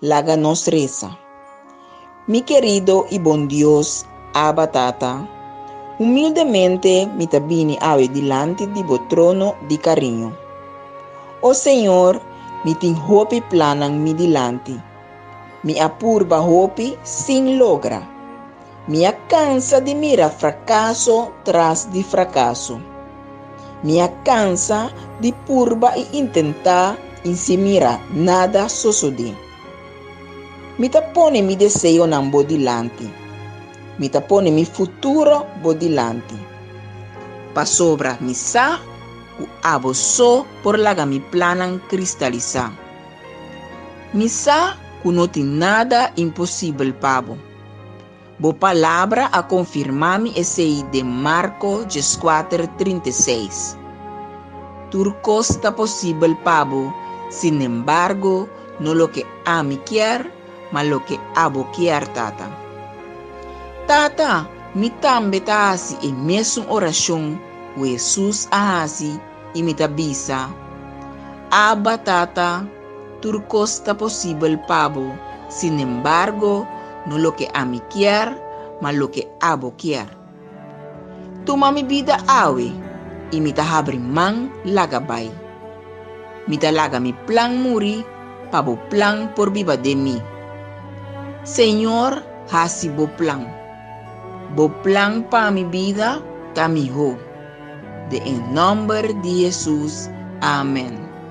Laga nos resa. Mi kerido i bon Dios, Aba Tata, humildemente mi ta bini awe dilanti di bo trono di kariño. O Señor, mi tin hopi plannan mi dilanti. Mi a purba hopi sin logra. Mi a kansa di mira frakaso tras di frakaso. Mi a kansa di purba i intentá i sin mira nada sosodé. Mi ta pone mi deseonan bo dilanti. Mi ta pone mi futuro bo dilanti. Pasobra mi sa ku abo so por laga mi plannan kristalisá. Mi sa ku no tin nada imposibel pa bo. Bo palabra a konfirmá mi esei den Marko dieskuater trinta i seis. Tur kos ta posibel pa bo, sinembargo, no loke ami kier, ma loke abo kier, Tata. Tata, mi tambe ta hasi e mesun orashon ku Hesus a hasi i mi ta bisa, Abba, Tata. Tur cos ta posibel pa bo, sin embargo, no loke ami kier, ma loke abo kier. Tuma mi bida awe, y mi ta habri man laga bai. Mi ta laga mi plan muri, pa bo plan por biba den mi. Señor, haci bo plan. Bo plan pa mi bida ta miho. Den e nomber di Jesus, amen.